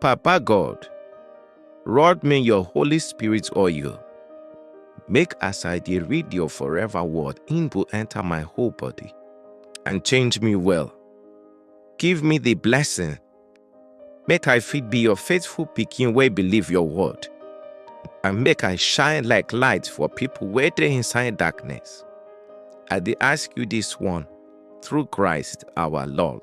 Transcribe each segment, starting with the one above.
Papa God, rod me your Holy Spirit oil. Make as I dey read your forever word, in go enter my whole body and change me well. Give me the blessing. Make I fit be your faithful pikin wey believe your word. And make I shine like light for people wey dey inside darkness. I dey ask you this one through Christ our Lord.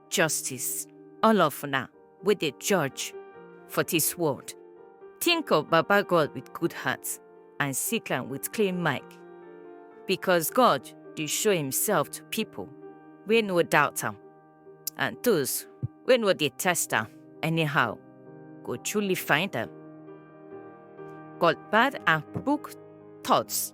Justice, all of una wey dey judge for dis world, think of Baba God with good heart and seek am with clean mind, because God dey show himself to people wey no doubt am, and those wey no dey test am anyhow go truly find am. God bad and crook thoughts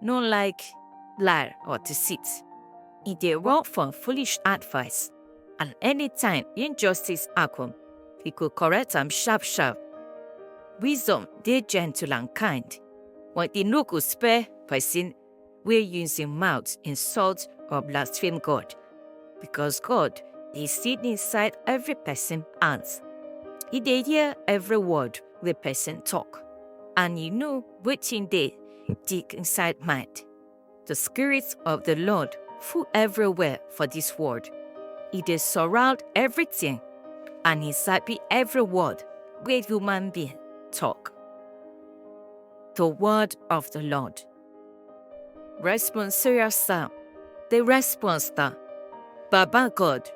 no like lie or deceit. He dey run from foolish advice, and anytime injustice happen, he go correct am sharp sharp. Wisdom dey gentle and kind, but he no go spare person wey use him mouth insult or blaspheme God, because God dey see inside every person hands. He dey hear every word wey person talk, and he know Wetin dey dig inside mind? The Spirit of the Lord full everywhere for this world. E dey surround everything and he sabi every word wey human being talk. The word of the Lord. Responsorial Psalm. The response na, Baba God,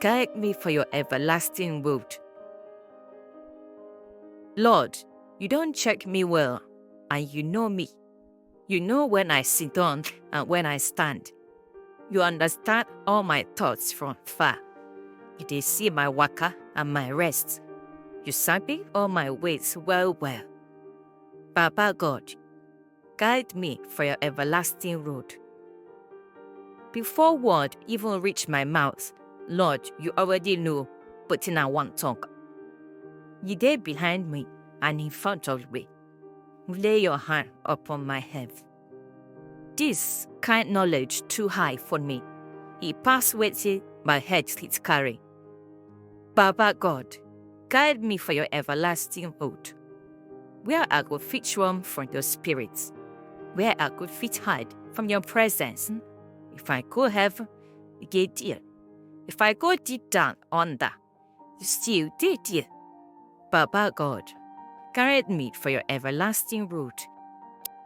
guide me for your everlasting road. Lord, You don't check me well, and you know me. You know when I sit down and when I stand. You understand all my thoughts from far. You dey see my waka and my rest. You sabi all my ways well well. Baba God, Guide me for your everlasting road. Before word even reach my mouth, Lord, you already know wetin I wan talk. You dey behind me and in front of me. Lay your hand upon my head. This kind knowledge too high for me. E pass wetin my head fit carry. Baba God, guide me for your everlasting road, where I go fit run from your spirit, where I go fit hide from your presence. If I go heaven, you get there. If I go deep down under, you still did there. Baba God, guide me for your everlasting road.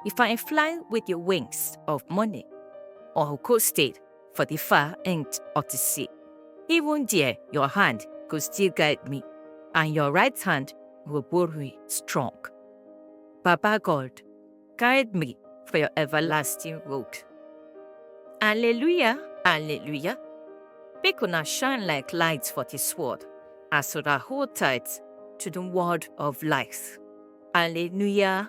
If I fly with your wings of money, or coasted for the far end of the sea. Even there, your hand go still guide me, and your right hand go hold me strong. Baba God, guide me for your everlasting road. Alleluia, alleluia. Make una shine like lights for this world, as una hold tight to the word of life. Alleluia,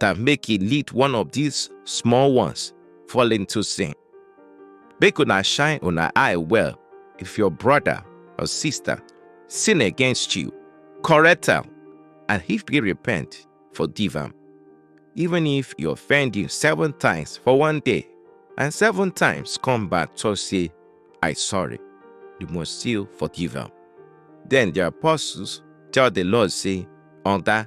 that make e lead one of these small ones fall into sin. Make una shine una eye well if your brother or sister sin against you, correct am, and if he repent, forgive am. Even if he offend you seven times for one day, and seven times come back to say, I sorry, you must still forgive am. Then the apostles tell the Lord, say, Oga,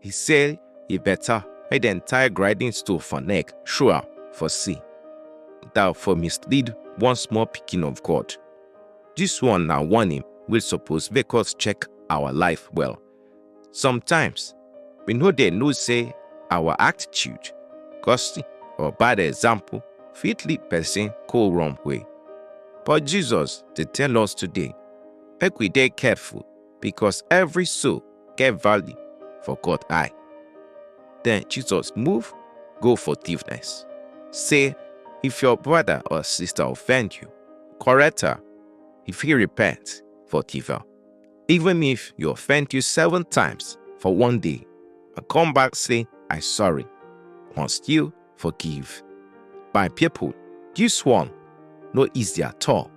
He say e better make dem tie grinding stone for neck, show am for see. Thou for mislead one small pikin of God. This one na warning wey suppose make us check our life well. Sometimes, we no dey know say our attitude, gossip, or bad example fit lead person go wrong way. But Jesus dey tell us today make we dey careful because every soul get value for God eye. Then Jesus move, go forgiveness. Say, if your brother or sister offend you, correct her. If he repent, forgive her. Even if you offend you seven times for one day, and come back say, I sorry. Once you forgive. My people, this one no easy at all.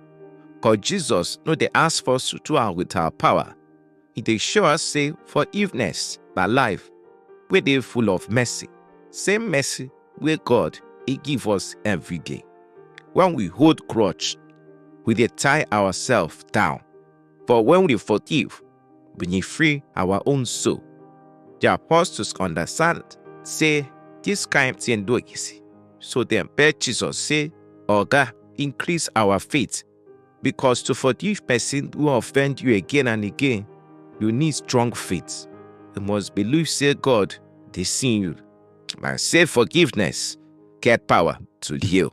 Cause Jesus no dey ask for us to do am with our power. He dey show us say forgiveness na life wey dey full of mercy. Same mercy wey God dey give us every day. When we hold grudge, we dey tie ourselves down. But when we forgive, we need free our own soul. The apostles understand say this kind thing no easy. So dem beg Jesus say, Oga, increase our faith because to forgive person who offend you again and again, you need strong faith. You must believe say God dey see you and say forgiveness get power to heal.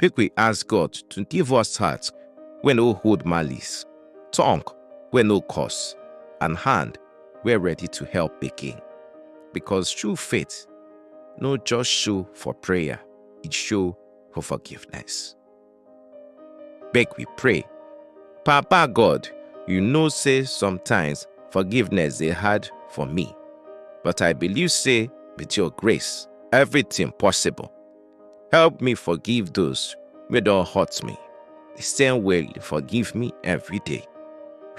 make we ask God to give us heart wey no hold malice, tongue wey no curse, and hand wey ready to help again. Because true faith no just show for prayer, it show for forgiveness. Make we pray. Papa God, you know say sometimes forgiveness dey hard for me, but I believe say with your grace, everything possible. Help me forgive those wey don hurt me, the same way you forgive me every day.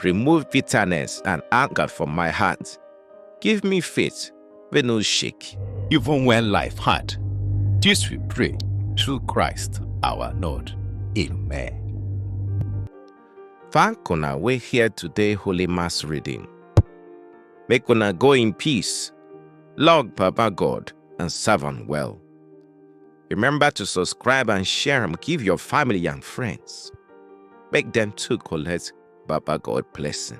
Remove bitterness and anger from my heart. Give me faith wey no shake. Even when life hard, this we pray through Christ our Lord. Amen. Thank una wey hear today Holy Mass reading. Make una go in peace, love Baba God and serve am well. Remember to subscribe and share them. Give your family and friends. Make them too collect Baba God blessing.